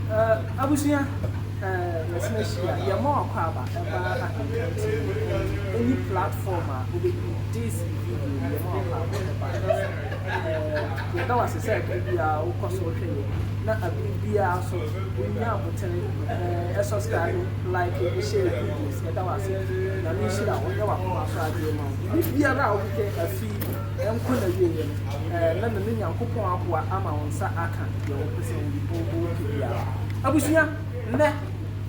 Eh abusua eh yɛsena hyia yɛma wakwaaba ɛbaa akenkan ti mu ɛne any platform a obedu this video no yɛma wakwaaba ɛbaa ɛbɛsa eh yɛda wase sɛ abiri biaa wokɔ so hwɛ yɛn na abiri biaa nso wonya abotere eh ɛsubscribe like ne share videos yɛda wase nyame nhyira wo ɔnyɛ wakoma so adeɛ ma wo biribi biara a wopɛ afi Ɛnkɔ n'awieeɛ no, ɛɛ na nane Nyankopɔn aboa ama wo nsa aka deɛ wopɛ sɛ wo wo wopɛ biara. Abusua, nnɛ,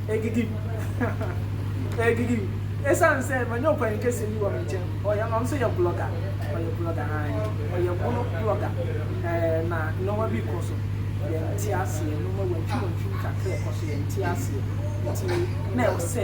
ɛdidim, ɛdidim, ɛsiane sɛ manya ɔpanin kɛseɛ bi wɔ me nkyɛn, ɔyɛ, ɔno nso yɛ blogger, ɔyɛ blogger, aane, ɔyɛ mono blogger, ɛɛ na nnoɔma bi rekɔ so, yɛnte aseɛ, nnoɔma wantwim wantwim kakra ɛkɔ so, yɛnte aseɛ, nti na ɛwɔ sɛ.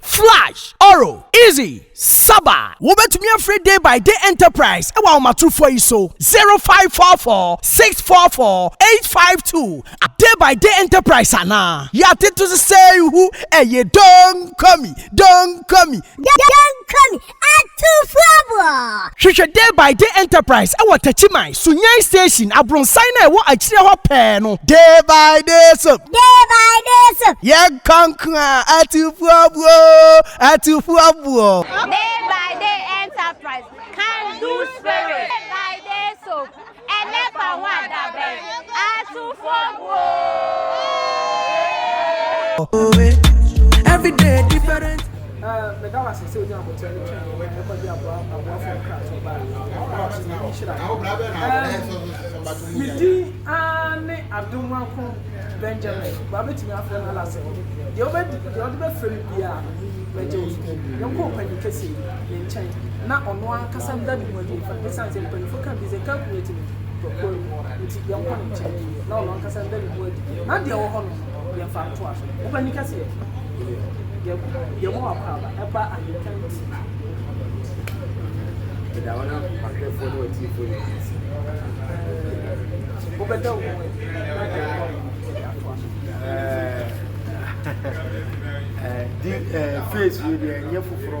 Flash, Oro, Easy, Saba, Wobɛtumi afrɛ Day by Day Enterprise wɔ ahomatrofoɔ yi so, 0544 644 852 a Day by Day Enterprise anaa Yɛatete so sɛɛ hu ɛyɛ Don't call me, don't call me, don't call me. Atufoɔ! Hwehwɛ Day by Day Enterprise wɔ Techiman, Sunyani Station, abronsan no a ɛwɔ akyire hɔ pɛɛ no. Day by Day Soap. Day by Day Soap. Yɛn nkonkron a Atufoɔ buo oo, Atufoɔ buo. Day by Day Enterprise, Can Do Spirit. Day by Day Soap. Ɛnɛ fa ho adabɛn asufo guo. Meda wo ase sɛ wonya abotire no twɛn yɛn na ɛkɔgye aboafoɔ nkratoɔ baa yɛn. Me din ara ne Adomankron Benjamin. Wabɛtumi afrɛ me Alasɛ. Deɛ wobɛdi, deɛ wode bɛfrɛ me biara no, mɛgye wo so. Yɛnkɔ ɔpanyin kɛseɛ yi. ne nkyɛn na ɔno ankasa da ne ho adi mfa esiane sɛ mpanyimfo ka bi sɛ calculate no tɔkwaw mu nti yɛnkɔ ne nkyɛn na ɔno ankasa nda ne ho adi na deɛ ɛwɔ hɔ no yɛmfa ntoa so. Wo panyin kɛseɛ yɛma wo akwaaba ɛba ahenka nti wobɛda wo ho adi na deɛ ɛwɔ hɔ no yɛatoa so. Eh, eh, di eh, face wei deɛ ɛnyɛ foforɔ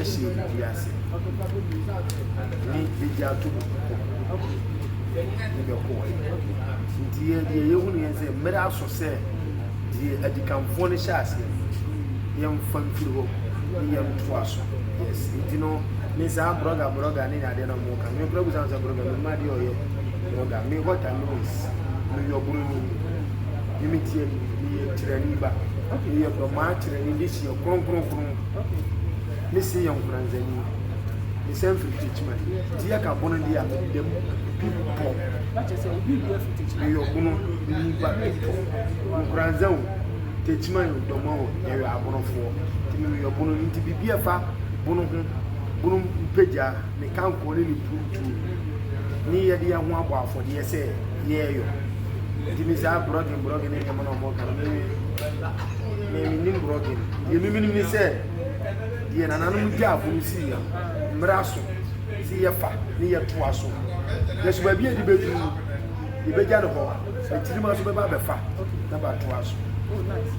ɛhyɛ biribi ase ne bɛgye ato mu ne bɛkɔɔɛ nti yɛ deɛ yɛhunu yɛn sɛ mmerɛ aso sɛ deɛ adikanfoɔ no hyɛ aseɛ no yɛmfa mfiri hɔ ne yɛntoa so yes nti no ne saa brɔga brɔga ne adeɛ no mo ka me kura busa sɛ brɔga me ma deɛ ɔyɛ brɔga me what I know is me yɛ ɔbroni ne me tiɛ me yɛ tirani ba me yɛ dɔmaa tirani de hyɛ kronkron Ho me se yɛ nkoranzani me san firi Techiman nti yɛ ka bono deɛ a me deda mu pi pɔ me yɔ bono me nipa pi pɔ nkoranza o Techiman o dɔma o yɛ yɔ abonofoɔ nti me me yɔ bono no nti bibi ɛfa bono ho bono mpagya me kankoɔ ne ne purutuo ne yɛ deɛ ho abɔ afɔdeɛ sɛ yɛ yɔ nti me saa brɔgin brɔgin ne nneɛma na ɔmo ka no me Me menim borɔgye no. Deɛ me menim ne sɛ deɛ nananom gyaa fo no siiɛ no, mmara so sɛ yɛfa ne yɛtoa so. Nanso baabi a yɛde bɛduru no, yɛbɛgya no hɔ, na tirim nso bɛba abɛfa na bɛatoa so. Oh, nice.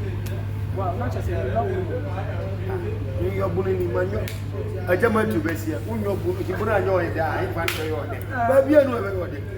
Wow, na kyerɛ sɛ yɛnyɔ bono mu. Menyɔ bono ni, manyɔ. Agya Matthew bɛseɛ, wonyɔ bono, nti bono anyɛ ɔyɛ dɛ a, ɛmfa nkyerɛ yɛ ɔdɛ. Baabi a no ɛbɛyɛ ɔdɛ.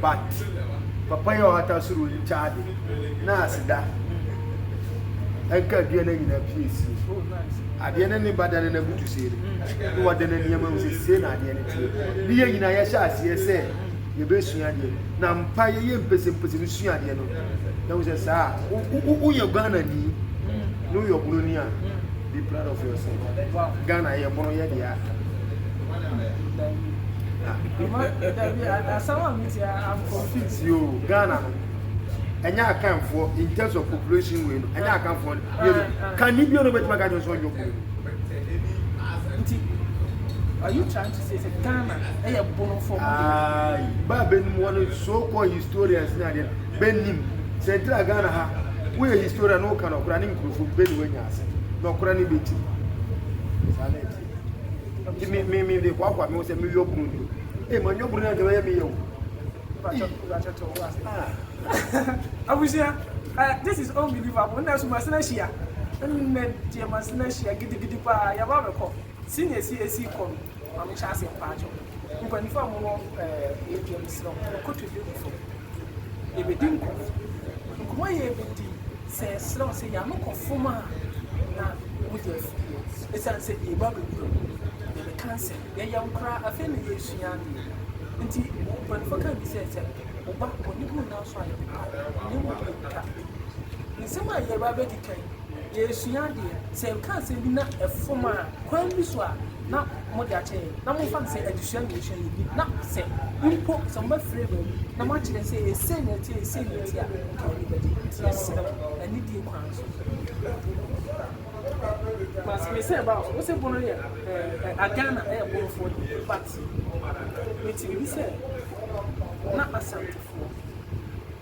But papa yi a ɔhata soro yi nkyɛ ade na aseda nka adua no nyinaa pii asie. Adeɛ no ne ba da ne no abutu sei no na wɔde no nneɛma mu sɛ sei na adeɛ no teɛ. Ne yɛ nyinaa yɛhyɛ aseɛ sɛ yɛbɛsua adeɛ na mpa yɛyɛ mpɛsɛmpɛsɛ no sua adeɛ no na wo sɛ saa woyɛ Ghana ni na woyɛ ɔbononi a Be proud of yourself. Wow. Ghana yɛ bono yɛ deɛ. I'm confused. Yo, Ghana no. Ɛnyɛ akanfoɔ in terms of population wei no. Ɛnyɛ akanfoɔ no. Yɛ no. Kan ni bio no bɛtuma ka kyerɛ nso ɔnyɛ ɔkuru. Nti, are you trying to say sɛ Ghana ɛyɛ bono fɔ? Ayi, ba bɛnum wɔn so-called historians ni adeɛ bɛnum. Sɛ ntira Ghana ha, woyɛ historian na woka no ɔkura ne nkurɔfoɔ bɛni wanya. Ase. Nɔkora no bɛ tiri. Saa na ɛteɛ. Nti me, me, me de hoahoa me ho sɛ meyɔ bunu ni. Ee, ma nyɔ bunu ni ankyɛ bɛyɛ meyɛ o. Abusua, eh, this is unbelievable. Nna so Masina hyia. Nna deɛ Masina hyia gidigidi paa. Yɛaba abɛkɔ. Ti na esi esi kɔ no ma me hyɛ ase mpakyɛw mpanyinfo a wɔwɔ ɛɛ yɛ me srɛ mo koto dua gu fam yɛ bɛ di nkɔmɔ nkɔmɔ a yɛ bɛ di sɛ yɛ srɛ mo sɛ yɛ ano kɔ fom a na mo gya firi hɔ esan sɛ yɛ ba bɛ wura mu yɛ bɛ ka nsɛm yɛ yɛ nkora afei na yɛ sua adeɛ nti mpanyinfo ka bi sɛ sɛ ɔba ɔne bu nnan so a yɛ bɛ pa na emu yɛ ka nsɛm a yɛ ba bɛ di kan. Yɛresua adeɛ. Sɛ yɛka asɛm bi na ɛfom a, kwan bi so a na mode akyɛ yɛn. Na momfa no sɛ adesua na yɛresua yi bi, na sɛ mpo sɛ mobɛfrɛ yɛn baabi na moakyerɛ sɛ yɛ sei na ɛteɛ, yɛ sei na ɛteɛ a, nka yɛn ani bɛgye. Nti yɛsrɛ mo, anidie kwan so. Mas me sɛ ba wo se bono yɛ eh a Ghana ɛyɛ bonofoɔ deɛ but mete biribi sɛ na asantefoɔ.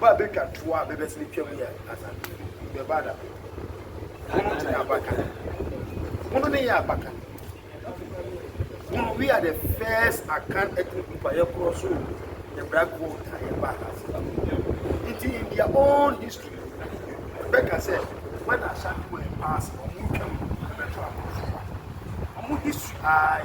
Ba betwa toɔ a bɛbɛ sene twam yɛ ana? Bɛ ba da bɛ Hunu te abakan Hunu ne yɛ abakan Hunu we are the first Akan ɛtene kupa yɛ korɔ so Yɛ bra gold na yɛ ba ha se Nti in their own history Bɛ ka sɛ when Ashanti were in power se Ɔmo twam bɛbɛ to aborɔfo Ɔmo history aa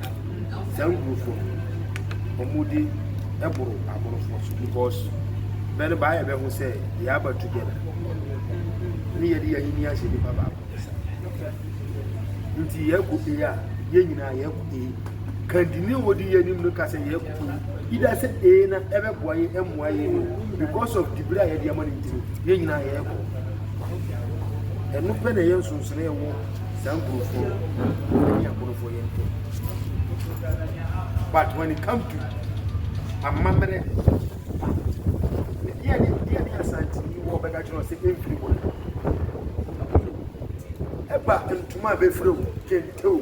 Saa nkurɔfoɔ no, wɔn de boro aborofoɔ so because bɛ no baayɛ bɛ ho sɛ yɛ aba together ne yɛ de yɛ ahenni ahyɛ nipa baako ne sa. Nti yɛ kɔ A a yɛ nyinaa yɛ kɔ A. Kandini a wɔdi yɛ anim no ka sɛ yɛ kɔ A. Ida sɛ A na ɛbɛ boa yɛ ɛmmoa yɛ no because of dibere a yɛ de ama no ntino yɛ nyinaa yɛ kɔ. Ɛno pɛ na yɛ nsonsono yɛ wɔ saa nkurɔfoɔ no ɛne aborofoɔ yɛ ntɛm but when it come to amammerɛ pa deɛ ne deɛ ne asanteni wɔ bɛka kyerɛ sɛ ɛmfiri hɔ ɛba ntoma a bɛfiri o kente o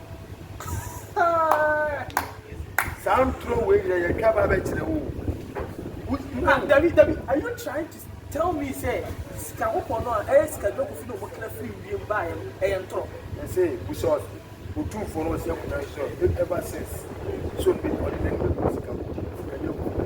saa ntoro wei nyina yɛtwa ba bɛkyerɛ wo ah, dabi dabi are you trying to tell me sɛ sika kɔkɔɔ no a ɛyɛ sika dwa kofi na ɔmokra firi wiem baeɛ no ɛyɛ ntorɔ ɛsɛ busa ɔtumfoɔ no ɔsɛ kuna sɛ ever since so ɔde n'ani bɛgu sika kɔkɔɔ ɛnyɛ kɔkɔɔ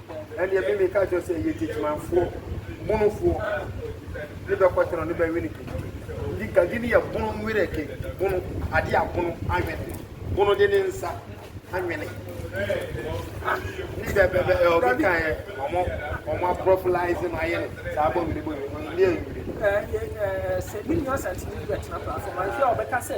Ɛndeɛ me meka kyerɛ wo sɛ yɛ Techimanfoɔ bonofoɔ ne bɛ kɔtɛ no ne bɛ wene kente. Ndi gagi ne yɛ bono nwene kente bono adeɛ a bono anwene bono de ne nsa anwene ne bɛ bɛ bɛ ɛwɔ bi kan yɛ ɔmo ɔmo aprɔpilize no ayɛ no saa bɔ nwene bɔ nwene no ne yɛ nwene. Sɛ me nua Santini bɛtena platform a, ɛfɛ a ɔbɛka sɛ.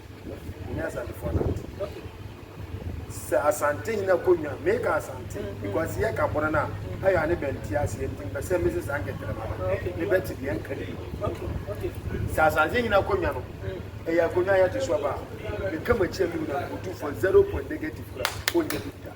Nyame Asantefoɔ no ate. Sɛ Asante nyina kɔ nwa, meka Asante mm-hmm. because yɛ ka bono na mm-hmm. ayɛ ane bɛnti aseɛ nti mpɛ sɛ mese saa nkɛtɛrɛma no mebɛte deɛ nka ne sɛ Asante nyina kɔ nwa no mm. ɛyɛ akonnwa yɛte so aba a meka makyi a mewura mpotufoɔ zero point negative kora ɔnyɛ bi da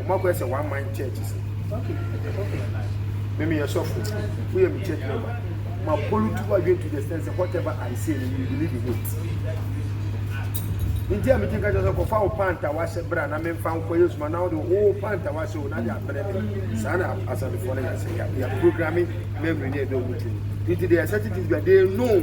Ɔmo akɔyɛ sɛ one man church sɛ. Okay okay me meyɛ sɔfo woyɛ me church member ma pollute w'adwen to the extent sɛ whatever I say no you believe in it nti a metumi ka kyerɛ sɛ kɔfa wo pant a wahyɛ berɛ a na memfa nkɔ yɛ suma na wode wo pant a wahyɛ o na de abrɛ me saa na asadefoɔ no yɛsɛ yɛprogramme memory ne ɛdɔ mu tumi nti they are certain things but they know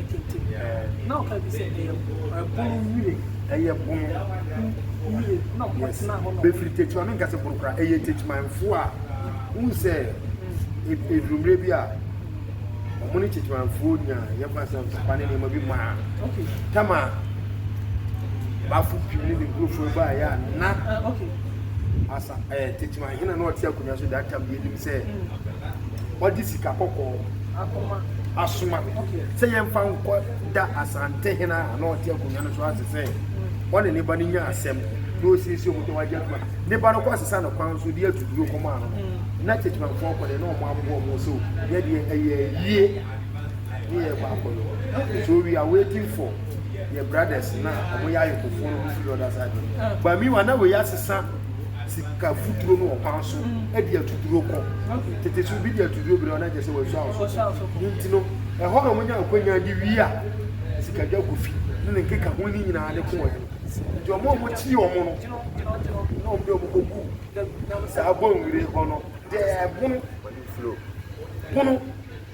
tete pɛɛ. Na ɔka bi sɛ ɛyɛ ɛbono nwire. Ɛyɛ bono nwire na ɔmo yes tena hɔ na ɔmo. Befiri tete ɔne nkase boro koraa ɛyɛ tetemanfoɔ a wohu sɛ eduru mmerɛ bi a ɔmo ne tetemanfoɔ nya yɛ kwan sɛ nsapa ne nneɛma bi maa okay tama baafo pii ne ne nkurɔfoɔ baa yɛ a na uh, okay asa ɛɛ eh, teteman hena na ɔte akonnwa so da tam bi anim sɛ ɔde sika kɔkɔɔ akoma asoma me sɛ yɛmfa nkɔ da Asantehen a na ɔte akonnwa no so ase sɛ ɔne ne ba no nya asɛm na ɔsiesie ɔmo tɔ wagye adwuma ne ba no kɔ asesa no kwan so de atu duro kɔma ano no na kyekyemanfoɔ kɔ deɛ na ɔmo aboa ɔmo sɛ yɛ deɛ ɛyɛ ayie ne yɛ kɔ akɔyɔ so we are waiting for yɛ brothers na ɔmo yɛ ayɔkofoɔ no ɔmo firi ɔda saa deɛ but meanwhile na wei asesa sika futuro no wɔ kwan so de atuduro kɔ. Tete so obi de atuduro brɛ na kyerɛ sɛ wɔasua awosofo. Ne nti no, ɛhɔ na wɔnya akwannya de wie a, sikadwa gu fi ne ne nkeka ho no nyinaa de kɔɔeɛ no. Nti wɔn a wɔtie wɔn no, na wɔn de wɔn kɔgu saa bɔnwire hɔ no, deɛ ɛbono bono.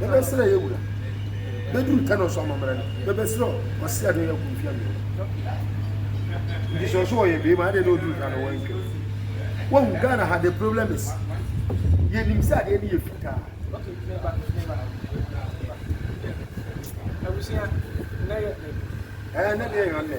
bɛbɛsrɛ yɛ wura bɛduru tɛnɔ so amammerɛ no bɛbɛsrɛ ɔse ade yɛ kumfia mmiɛnɔ nti sɛ ɔso ɔyɛ bɛima adeɛ na ɔduru ka no wɔntwam wahu ghana ha the problem is yɛnim sɛ adeɛ no yɛ fitaa ɛɛ na deɛ yɛ nnɛ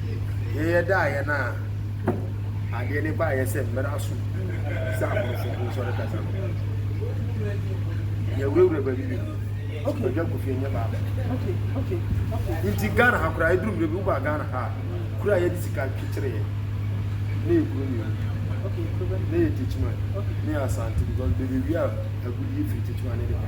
Yɛyɛ dɛ ayɛ no a, adeɛ no baayɛ sɛ mmara so sɛ aborɔfo ho nsɔre kasa no. Yɛwurawura baabi bebree. Okay. Ɔdwa kofie nyɛ baako. Okay, okay, okay. Nti Ghana ha koraa ɛduru mmerɛ bi wobaa Ghana ha a, kura yɛde sika kyekyere yɛ. Ne yɛ kuro mmienu. Okay, kuro Ne yɛ Techiman. Okay. Ne yɛ Asante because baabi a agudie firi Techiman ne de kɔ.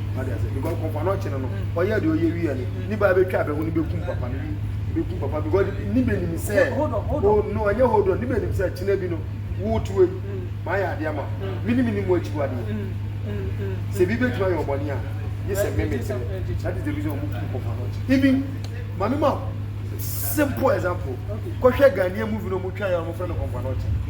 wade ase because pɔpɔ no ɔkyene no ɔyɛ de ɔyɛ wi ɛne ne ba bɛtwa abɛho ne bɛkum papa no wi bɛkum papa because ne bɛnim sɛ oh, no ɛnyɛ hold on ne bɛnim sɛ kyena bi no wote wei maayɛ adeɛ ama me ne menim mo akyi wadeɛ sɛ bi bɛtumi ayɛ ɔbɔne a gye sɛ me mete that is the reason ɔmo kum pɔpɔ no ɔkyene even mame ma simple example kɔhwɛ Ghanaian movie no ɔmo twa yɛ ɔmo fɛ no kɔmpa no ɔkyene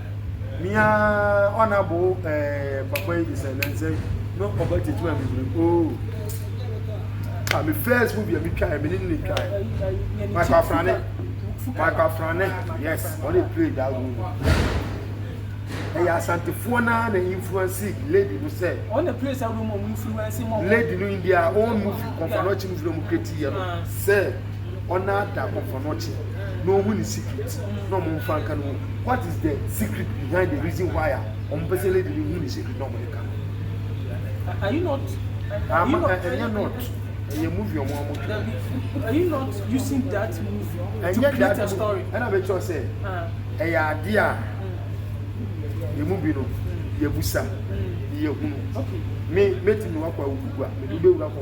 Meaa ɔna boo ɛɛ papa yi sɛ nɛnsɛ no ɔba gyegye ma bebree oo. Oh. Ah, me first movie a me twa me ne ne twa Michael Afrane. Michael Afrane, yes, ɔne play that role. Ɛyɛ asantefoɔ naa na influence lady no sɛ. Ɔne play sɛ room ɔmo influence mo. Lady no in their own movie, kɔnfana ɔkye movie na ɔmo create yɛ no sɛ. ɔnaada kɔnfɔnɔkye na ohu ne secret na ɔmo nfa nka no what is the secret behind the reason why a ɔmo pɛ sɛ lady no hu ne secret na ɔmo de ka no. are you not ama ɛnyɛ not ɛyɛ movie ɔmo ɔmo twerɛ are you not using that movie to create a story ɛna bɛ kyerɛ sɛ ɛyɛ adeɛ a yɛ mu bi no yɛ busa yɛ hunu me mɛtumi wakɔ awugu a mɛtumi bɛwura kɔ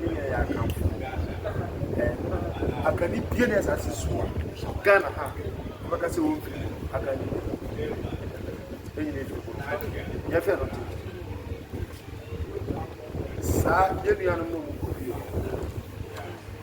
ne nyinaa yɛ Akanfoɔ. Ɛno no, Akani biara ne asase so wɔ Ghana ha ɔbɛka sɛ ɔmfiri mu. Akani ni. Ne nyinaa firi Borɔfo. Yɛhwɛ no to. Saa yɛn nuanom no mu kɔ bio.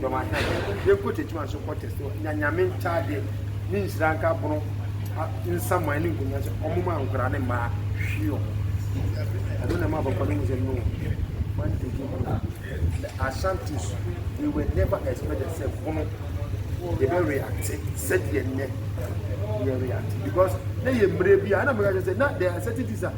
dɔm ahɛn yɛnkɔ tetima nso kɔ test wɔ nya nyame nkyaadeɛ ne nhyira nka bono nsaman ne nkonnwa sɛ ɔmo ma nkora ne mmaa hwi ɔmo ɛno na ɛma abɔfra no mu sɛ no man to do bono the ashantis they were never expected sɛ bono yɛbɛ react sɛdeɛ nnɛ yɛ react because na yɛ mmerɛ bi a ɛna mmerɛ sɛ na there are certain things a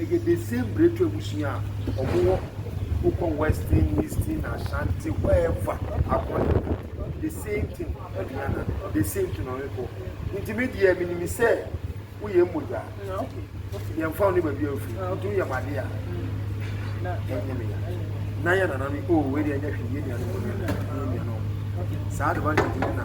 Ɛyɛ the same Bretwa abusua a ɔmo wɔ wokɔ western, eastern, Ashanti, wherever akron no the same thing Aduana the same thing ɔmo kɔ nti me deɛ menim sɛ woyɛ mmogya yɛn fa wo ne baabi a ofiri nti woyɛ mo ade a ɛnyɛ me ya na yɛ nana no o wei deɛ ɛnyɛ hwee yɛ nuanom no yɛ nuanom saa advantage no na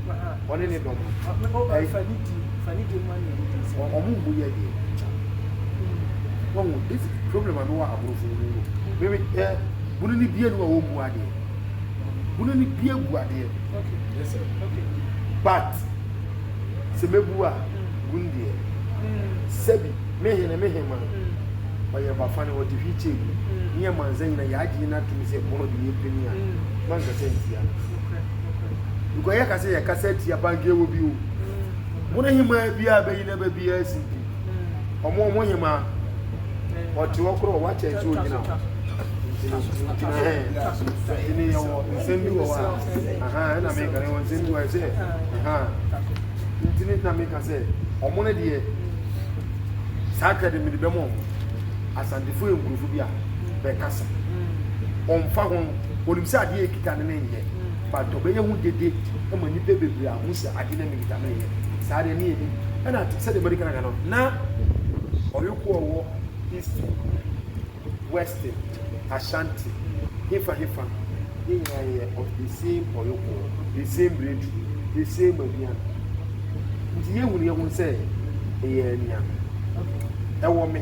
ɔne ne dɔm no. Ɔ- me- o- Ɛy- fa ne din fa ne din ma nea ne din sɛ Ɔ- ɔmo mmu yɛ deɛ nkyɛn wahu this is problem a mewɔ aborɔfo no mu no meme ɛ bunu ne bie no a wɔmmu adeɛ bunu ne bie gu adeɛ okay Yes, sir. okay but sɛ mɛbu a bunu deɛ sɛbi mehene me hema ɔyɛ bafa ne ɔte hwi kyɛɛ mu ne yɛ mansa nyina yɛagye no atom sɛ bunu de yɛpini a manka sɛ ntia no nokorɛ Because yɛ kasa yɛ kasa ti abanke wɔ bi o. Mo ne hema bi a bɛyi na bɛ bi a si bi. Ɔmo ɔmo hema ɔte hɔ korɔ wa kyɛn so gyina hɔ. Gyina hɛ. Ɛne yɛ wɔ nsɛm bi wɔ hɔ a. Aha ɛna mi kare wɔ nsɛm bi wɔ ɛsɛ. Aha. Ntini na mi ka sɛ ɔmo ne deɛ saa kɛde mi de bɛ mo ɔmo. Asantefo yɛ nkurɔfo bi a bɛ kasa. Ɔmfa ho. Onim sɛ adeɛ a ɛkita no no nyɛ, but ɔbɛyɛ ho dede ma nnipa bebree ahu sɛ adeɛ no mekita no nyɛ. Saa deɛ ne yɛnim. Ɛna sɛdeɛ madi kan aka no, na ɔyoko ɔwɔ East, West, Ashanti, hefa hefa, yɛn nyinaa yɛ of the same ɔyoko, the same bretu, the same aduan. Nti yɛhunu yɛn ho sɛ ɛyɛ anuanom. Ɛwɔ me.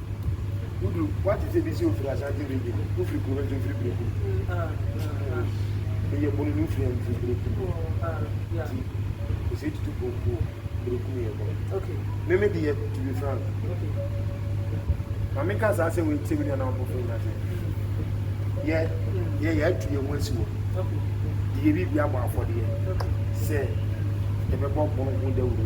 Wodu wate sɛ bi sɛ ofiri Asante region, wofiri kuro no nso ofiri Berekum. Bɛyɛ bono no ofiri amfiri Berekum. Ti ɔsɛ tutu pɔmpo Berekum yɛ bono. Meme deɛ to be frank. Mame ka saa sɛ wei sɛ wini anaa ɔbɔfo nyina sɛ. Yɛ yɛ yɛ atu yɛ ho asi wɔ. Deɛ biribi abɔ afɔdeɛ sɛ yɛbɛbɔ bono ho dawuro.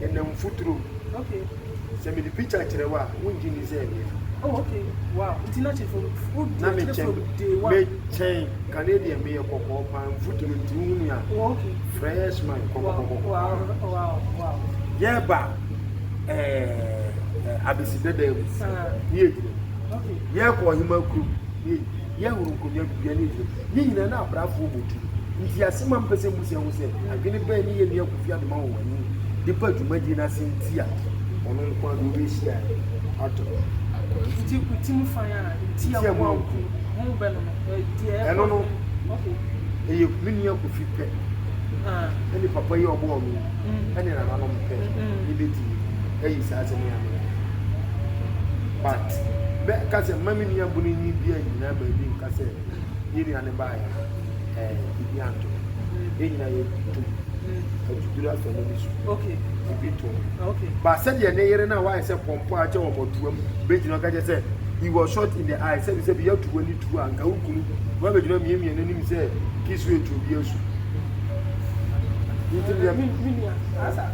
Ɛnam mfuturo mu. Okay. Sɛ mede picture kyerɛ wo a, wongye nni sɛ ɛmea. Oh, okay. Wow. Nti na kyerɛ from wodu akyerɛ from day one. Me kyɛn Canadian meyɛ kɔkɔɔ paa mfuturo nti wohunu a. Oh, okay. Fresh man kɔkɔkɔkɔ. Wow, wow, wow. Yɛba ɛɛ abesi dada mu. Ne yɛ gyina mu. Okay. Yɛkɔ ɔhema kurom. Ne yɛ gyina mu. Yɛ horo nkonnwa gu yɛn ani so. Yɛn nyinaa na abraafoɔ bɔ tu. Ntease ma mpɛ sɛ mbusua hu sɛ adwene bɛn ne yɛn nua Kofi Adoma wɔ w'ani de ba dwumadie no ase nti a ɔno nko ara de ɔbɛhyia ato hɔ. Akoranfuti ku ti mu fan a nti a wɔanku ho bɛ no no, deɛ ɛkɔ so. Ɛno no, ɛyɛ me nua Kofi pɛ, ɛne papa yi a ɔbɔɔ me yi, ɛne nananom pɛ na ɛbɛtumi. ayi saa asɛm yi ano wɔ hɔ. But mɛ ka sɛ mma me nua bunu nyi bi annyina baabi nka sɛ yɛ nua ne baayɛ no ɛɛ bibi anto no. Yɛ nyina yɛ tum atuduru asɔ ne ne su. Okay. Bibi to. Okay. Ba sɛ deɛ ne yere na wayɛ sɛ pɔmpɔ akyɛ wɔn ɔtoam bɛgyina ɔka kyɛ sɛ he was shot in the eye sɛbi sɛbi yɛ tuwa ne tuwa nka wo kunu wɔn abɛgyina mmiemia n'anim sɛ kisu etu obi asu. Nti deɛ. Me nua asa.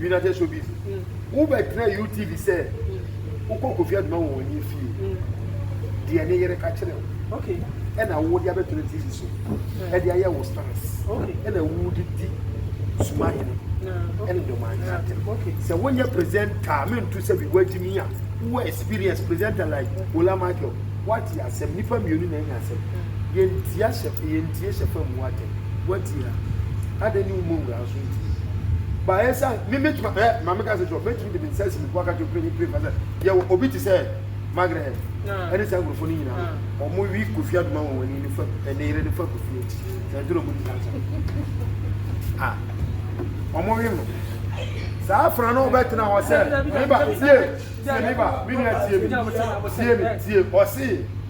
United Showbiz. Mm. Wo bɛ tena UTV sɛ. Mm. Wo kɔ Kofi Aduma wɔ wɔn fie. Mm. Deɛ ne yere ka kyerɛ wo. Okay. Ɛna wo de abɛto ne TV so. Mm. Ɛde ayɛ wo stars. Okay. Ɛna wo de di suma hene. Ɛne dɔmaa ne atɛm. Okay. Sɛ wonyɛ presenter me nto sɛ bi wagyi mi a wo experience presenter like Ola Michael wate asɛm nipa mmienu na anya asɛm. Mm. Yɛntia hyɛ yɛntie hyɛ fam wo atɛm wate a. Adɛn ne wo mɔ wura so. baeɛ sɛ me mɛtumi ɛ maame ka sɛ kyerɛ mɛtumi de me nsa asi me bo aka kyerɛ mprɛni mprɛni sɛ yɛwɔ obi te sɛ Margaret ɛne saa nkurɔfoɔ no nyinaa no wɔn wi kofi adoma wɔn wani ne fa ɛne yere ne fa kofi akyi na ɛnto na wɔn di saa nsɛm a wɔn wi no saa afra no ɔbɛtena hɔ sɛ meba sie sie meba me nua sie mi sie mi sie ɔsee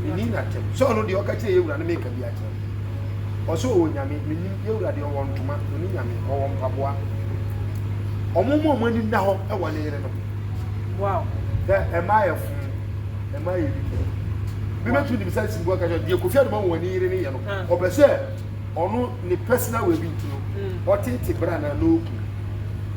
Menni no atɛm sɛ ɔno deɛ ɔka kyerɛ yɛ wura no meka bi akyerɛ no. Ɔsɛ ɔwɔ nyame, mennim, yɛ wura deɛ ɔwɔ ntoma, ɔni nyame, ɔwɔ mpaboa. Ɔmo mu ɔmo ani nna hɔ ɛwɔ ne yere no ho. Wow. Dɛ ɛmaa yɛ fom, ɛmaa yɛ didi. Bi bɛtumi nim sɛ simbu aka kyerɛ deɛ Kofi Anuma wɔn ani yere ne yɛ no. Ɔpɛ sɛ ɔno ne personal wɔ ebi nti no, ɔtete bra na n'oku.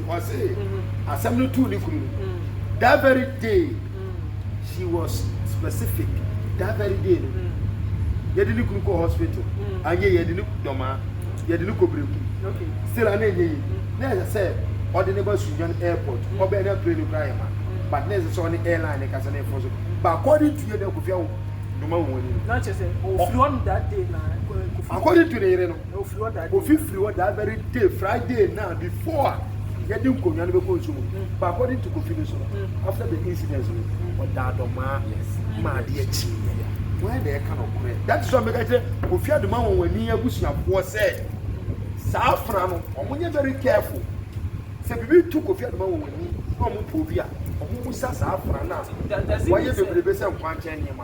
Ɔse asɛm no too ne kunu no that very day she was specific that very day no yɛde ne kunu kɔɔ hospital anyɛ yɛde ne dɔmaa yɛde ne kɔ breku still ana ɛnyɛ yie na ɛsɛ sɛ ɔde ne ba sunyan airport ɔbɛn na plane kura yɛ ma but na ɛsɛ sɛ ɔne airline ne kasa ne ɛfɔ so but according to yɛ deɛ kofia wo doma wo ani no according to ne yere no. Ofi firi hɔ that very day Friday na before a yɛde nkonnwa no bɛkɔ nsuo mu no but according to Kofi no so no after the incident no ɔda adɔmaa ma adeɛ kyee yɛ ya wɔn na ɛka no korɛ that is why mɛka kyerɛ Kofi Adoma wɔn wɔn ani abusuafoɔ sɛ saa afra no wɔn nyɛ very careful sɛ biribi to Kofi Adoma wɔn wɔn ani na wɔn poobi a wɔn musa saa afra no a wɔyɛ bebrebe sɛ nkwankyɛn nneɛma.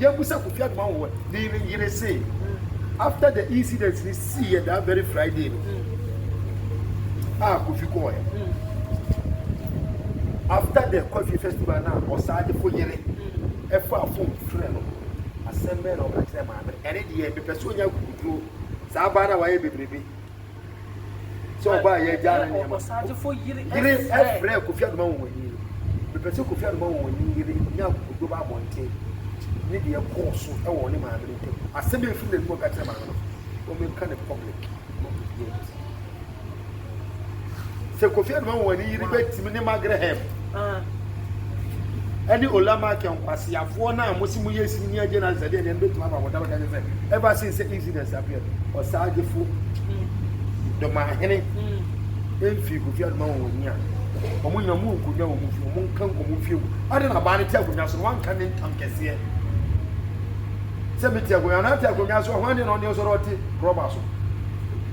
Yɛn mu sɛ Kofi Adoma wɔ ne yere se after the incident ni sii yɛ that very Friday no a Kofi kɔɔ yɛ after the Kofi festival na ɔsaa de ko yere ɛfa afom frɛ no asɛm bɛn na ɔka kyerɛ maame ɛne deɛ mepɛ so nya kukuduro saa baa na wayɛ bebrebe. sɛ ɔbaa yɛ agya ne nneɛma yere ɛfrɛ kofi adoma wɔwɔni no mepɛ sɛ kofi adoma wɔwɔni yere nya akokoduro ba abɔnten ne deɛ ɛkɔɔ so ɛwɔ ne maame no ntam asɛm bi mfiri n'anim ɔka kyerɛ maame no wɔmɛka ne public ma obiara bisa sɛ Kofi Anuma wɔn ani yere bɛtim ne Magraham ɛne Olamakɛ nkwaseafoɔ no a mosi mo yɛ sini ne agye na sɛdeɛ deɛ no bɛtumi aba wɔda bɛka kyɛ sɛ ever since sɛ incidents appeared ɔsaagyefoɔ dɔmahene mfiri Kofi Anuma wɔn ani a wɔn nyina wɔn nkonnwa wɔn fie wɔn nka nkɔmɔ mfie mu ade na baa no te akonnwa so no wanka ne ntam kɛseɛ sɛ mete akonnwa na ate akonnwa so a hwan deɛ na ɔne ɔsɔre ɔte rɔba so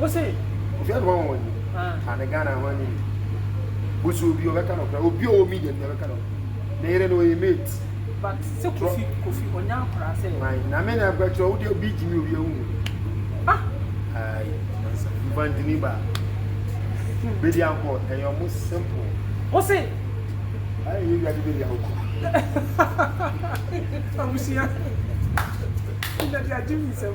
Wose. Ofi ano wɔn wɔn yi. Ah. Ane Ghana ho ani. Busu obi ɔbɛka no kora. Obi ɔwɔ media ni ɔbɛka no. Ne yere no ɔyɛ mate. But se kofi kofi ɔnya akora se. Why? Na me na akora kyerɛ ɔwode obi gyimi obi awu. Ah. Ayi, mansa. Mbantini ba. Bedi anko ɛyɛ ɔmo simple. Wose. Ayi, yɛ wiade bedi anko. Abusia. Ina di ajimi sɛm.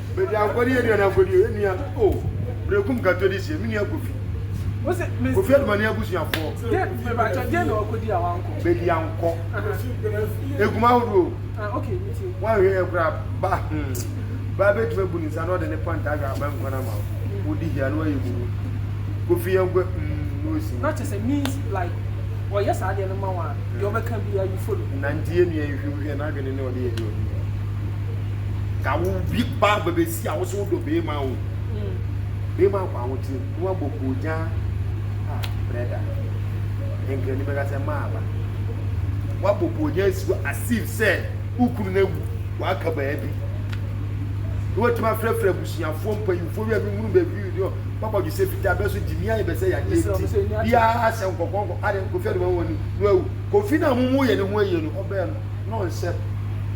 Bedi ankoradeɛ yɛ aduane ankoradeɛ yɛ nua oh Berekum nkantɔ de sie me nua Kofi Kofi Adumani abusuafoɔ Bedi ankɔ Egum ahodoɔ o Wanhwɛ yɛ koraa ba hmm Baa bɛtumi abu ne nsa na ɔde ne panta ahwɛ aban nkwan ama wo Wodi hia na wayɛ bubu Kofi yɛnkɔ hmm na ɔsi mu Nanti yɛ nua nhwɛ wohwɛ n'adwene ne ɔde yɛ aduane o ka wo bi ba bɛbɛsi a wo so wodɔ bɛrima o bɛrima akɔ ahokyere na wabɔ koogya a brɛda nkrani bɛka sɛ maa ba wabɔ koogya asi hɔ asif sɛ wokunu no awu waka baabi na watumi afrɛfrɛ abusuafoɔ mpanyimfoɔ wi a menhunu baabi wi deɛ papa dwo sɛ fitaa bɛ so gye mi ayɛ bɛ sɛ yadeɛ nti biara ahyɛ nkɔkɔnkɔ ade kofi adoma mu ani na awu kofi no a momu yɛ ne ho ayie no ɔbɛɛ no Na ɔnsɛ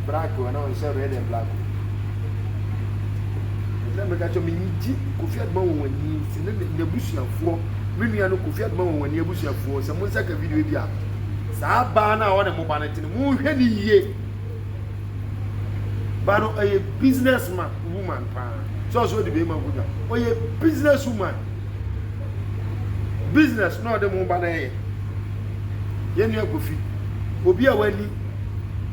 black o anaa ɔnsɛ red and black o. Ɛsɛ meka kyɛ menyi gye Kofi Adoma Wɔnwani ne n'abusuafoɔ me nua no Kofi Adoma Wɔnwani abusuafoɔ sɛ mo nsa ka video bi a saa baa no a ɔne mo ba no te no monhwɛ ne yie ba no ɔyɛ business man woman paa sɛ ɔsɛ ɔde bɛrima nkonnwa ɔyɛ business woman business na ɔde mo ba no ɛyɛ Yɛn nua Kofi, obi a wani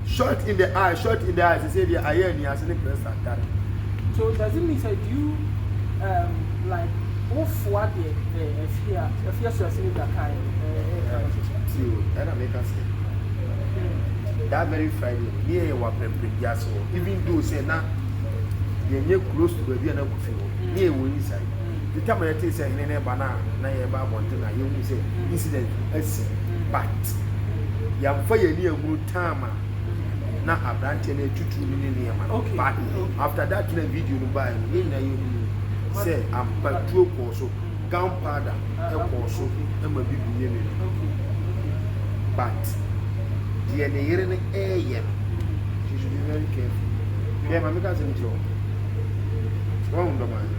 short in the eye, short in the eye, sɛ deɛ ayɛ ani ase ne press atare. So does it mean sɛ do you um, like wofoa deɛ the afie a afie asuase no da kan no ɛka no so? See o, ɛna meka sɛ that very Friday no ne yɛyɛ wɔ aprɛprɛ bi ase hɔ even though sɛ na yɛnyɛ close to baabi a na Kofi wɔ ne yɛwɔ inside. the time a yɛtee sɛ hene no reba no a na yɛreba abɔnten na yɛhu sɛ incident asi but yɛmfa yɛn ani ahunu time a na aberanteɛ no atutu ne ne nneɛma no but after that na video no baeɛ no yɛn nyinaa yɛhunu sɛ ampatuo kɔɔ so gunpowder kɔɔ so ma bi bu ne ne no but deɛ ne yere no ɛreyɛ no she should be very careful deɛ ma meka sɛm kyerɛ wɔn wɔn dɔm ayɛ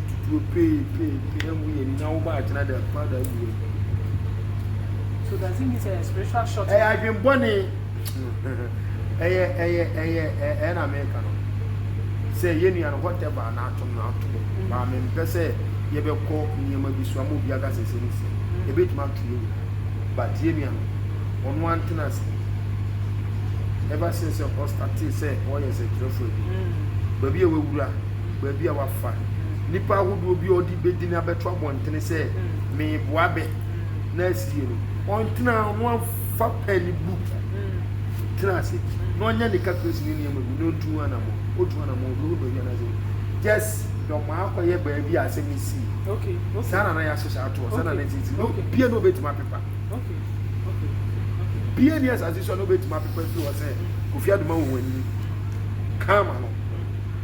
tutuo pee pee pee ɛmu yɛ ni na wo ba akyena de akɔ ada agu wɔ mu. So does it mean say a spiritual shot? Ɛyɛ adwembɔne. Ɛyɛ ɛyɛ ɛyɛ ɛyɛ na meka no. Sɛ yɛ nua no whatever na atom na atom. Mm. Ba me mpɛ sɛ yɛbɛkɔ nneɛma bi so ama obi aka sɛ sɛ ne sɛ. Mm. Ebetumi ato yɛ nyina. But yɛ nua no ɔno antena ase. Ever since ɔstate sɛ ɔyɛ sɛ kyerɛfo adwuma. Mm. Baabi a wawura baabi a wafa nnipa ahodoɔ bi a ɔde bɛdini abɛto abɔntene sɛ meboa bɛ na asi yie no ɔntena no amfa pɛ ne book tena ase na ɔnyɛ ne calculation ne nneɛma bi na ɔntu anamɔ ɔtu anamɔ ɔbɛhu baabi anasɛ just dɔma akɔyɛ baabi a asɛm si saa na na yɛahyehyɛ atoɔ saa na na ɛsisi na obia na ɔbɛtumi apepa bia ni asase so a na ɔbɛtumi apepa firi hɔ sɛ kofi adoma wɔ wɔn anim kama no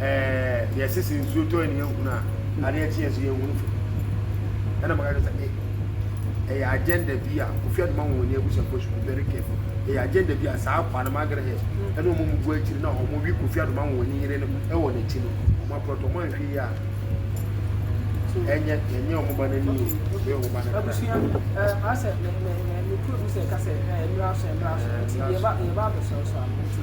ɛɛ yɛse sɛ nsuo tɔ yɛ ne yɛhunu a adeɛ kye yɛ so yɛhunu fam ɛna maka kyerɛ sɛ e ɛyɛ agenda bi a ofi adoma wɔn ani abusuafoɔ should be very careful ɛyɛ agenda bi a saa akwa no magere hɛ ɛna wɔn mu bu akyiri na wɔn wi kofi adoma wɔn ani yere no ɛwɔ n'akyi no wɔn apɔtɔ wɔn ahwɛ yi a ɛnyɛ ɛnyɛ wɔn ba n'ani o ɛyɛ wɔn ba n'ani abusua ɛɛ asɛ mɛ mɛ mɛ mɛ kuro bi sɛ kasɛ ɛɛ mmiri asɛ mmiri asɛ nti yɛ ba yɛ ba abɛsɛw so ano nti.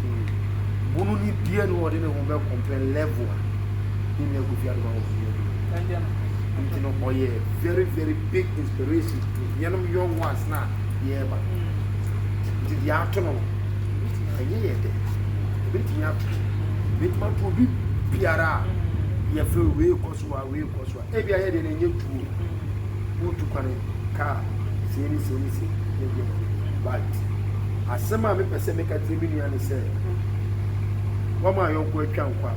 Bunu ni deɛ no ɔde ne ho bɛ compare level a ne nua kofi adoma wɔ fie aduro nti no ɔyɛ very very big inspiration to yɛnom young ones na yɛreba nti deɛ ato no ɛnyɛ yɛ dɛ ɛbɛtumi ato ɛbɛtumi ato obi biara a yɛfrɛ wei kɔ so a wei kɔ so a ebia yɛ deɛ no ɛnyɛ du o wotu kwane kaa sei ne sei ne sei ne deɛ ne deɛ but asɛm a mepɛ sɛ meka kyerɛ me nua ne sɛ wama ayɔnko atwa nkwa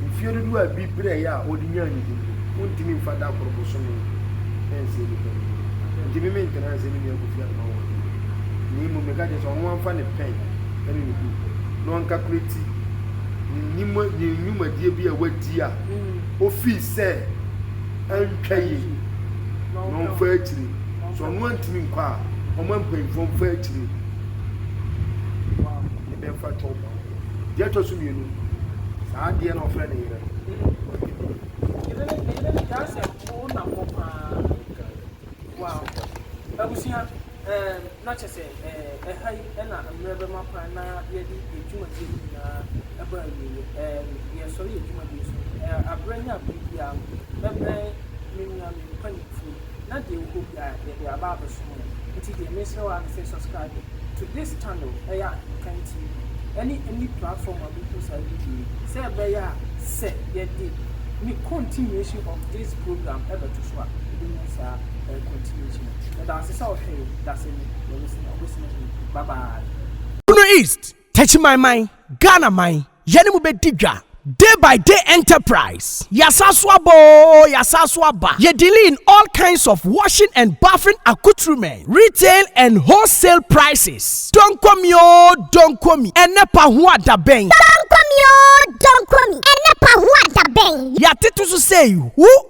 mfie dodoɔ a bi berɛeɛ a ɔde nyaa ne din wontumi mfa da koro bosome ɛnsɛ nipa no nti me mentena nsɛ me nua kofi adoma wɔ na mmom meka kyerɛ sɛ ɔno amfa ne pɛn ɛne ne bu na ɔnkakulati ne nnwuma ne nnwumadie bi a wadi a ofii sɛ antwa yie na ɔmfa akyire sɛ ɔno antumi nkɔ a ɔma mpanyinfoɔ mfa akyire ne bɛmfa kyɛw ma ɔkɔ deɛ ɛtɔ so mmienu saa adeɛ na ɔfrɛ ne yere Wow. Abusua. Ɛɛm, na kyerɛ sɛ, ɛɛ, ɛha yi na mmerɛ bɛma kwan na yɛde yɛn dwumadie no nyinaa ɛbɔ awieɛ. Ɛɛm, yɛresɔre yɛn dwumadie so no, ɛɛ, aberɛ ne aberɛ biara no, mɛbrɛ me nua, me mpaninfoɔ yi, na deɛ ɛwɔ hɔ biara, yɛde aba abɛsom mo. Nti deɛ mesrɛ wo ara ne sɛ, subscribe to this channel, ɛyɛ Aheman TV, ɛne any platform a mehu saa video yi, sɛ ɛbɛyɛ a, sɛ yɛde ne continuation of this program ɛbɛto so a, wobɛnya saa, ɛɛ, continuation no. Bono East, Techimanman, Ghana man, yɛne mo bɛdi dwa Day by day enterprise Yɛasan so aba oo, yɛasan so aba Yɛ dealing in all kinds of washing and bathing accoutrements Retail and wholesale prices Donko me oo, donko me Ɛnnɛ pa ho adabɛn Donko me oo, donko me Ɛnnɛ pa ho adabɛn Yɛatete so sei, who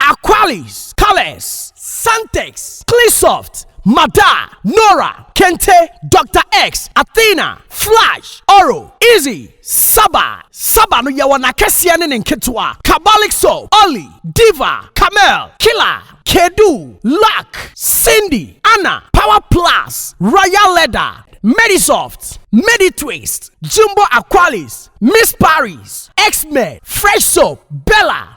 Aqualis, Calex, Santex, Cleansoft, Mada, Nora, Kente, Doctor X, Athena, Flash, Oro, Easy, Saba, Saba no yɛwɔ n'akɛseɛ ne ne nketewa, Cabalic Soap, Olly, Diva, Camel, Killer, Kedu, Luck, Cindy, Anna, Power Plus, Royal Leather, Medisoft, Meditwist, Jumbo Aqualis, Miss Paris, X-Men, Fresh Soap, Bella,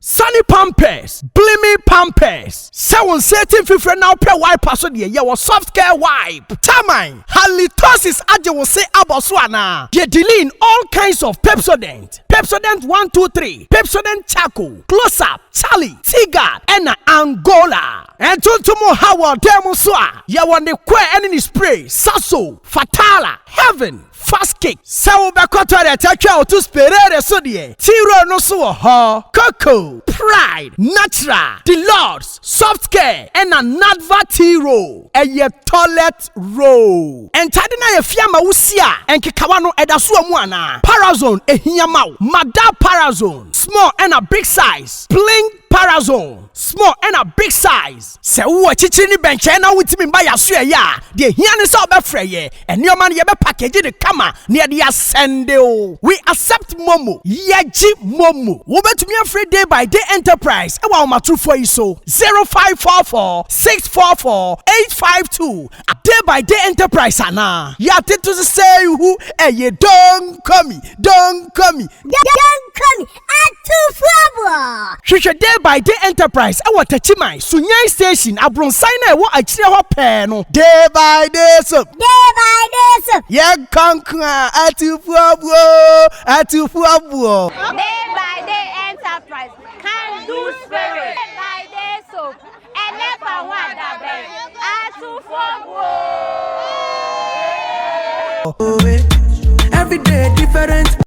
Sane pampers, gleaming pampers, sɛ wo nsa ati mfifire na wopɛ wiper so deɛ, yɛwɔ soft care wipe, Taman, halitosis agye wo se abɔ so anaa? Deɛ Deline, all kinds of Pepsodent, Pepsodent one two three, Pepsodent charcoal, close up, Charlie, Teaguard ɛna Angola. Ntontom nhaw wɔ ɔdan mu nso a, yɛwɔ ne coir ɛne ne spray, Saxo, Fatala, Heaven. Fast kick, Sɛ wobɛkɔ toilet atwa wo to sperere so deɛ, Tea Road no so wɔ hɔ. Coco, Pride, Natural, The Lords, Soft Care ɛna Nadva Tea Roll ɛyɛ toilet roll. Ntade no ayɛ fi ama wo si a nkekawa no ɛda so wɔ mu anaa? Parazone ɛhia ma wo. Madar Parazone, Small ɛna Big Size, Bling, Parazone, small ɛna big size. Sɛ wowɔ akyirikyiri ne bɛnkyɛn na wontumi mma yɛn aso ɛyɛ a, deɛ ɛhia ne sɛ wobɛfrɛ yɛn. Nneɛma no yɛbɛ package no kama na yɛde asɛnde wo. We accept momo. Yɛgye momo. Wobɛtumi afrɛ Day by Day Enterprise wɔ ahomatorofoɔ yi so, 0544 644 852 a Day by Day Enterprise anaa. Yɛatete so sɛ ihu ɛyɛ Don't call me, don't call me. Don't call me, Atufoɔ! Hwehwɛ Day by Day Enterprise wɔ Techiman, Sunyani Station, abronsan no a ɛwɔ akyire hɔ pɛɛ no. Day by Day Soap. Day by Day Soap. Yɛ nkonkron a, atufoɔ buo, atufoɔ buo. Day by Day Enterprise, Kandu Spirit. Day by Day Soap, ɛnɛ fa ho adabɛn, atufoɔ buo. Every day different.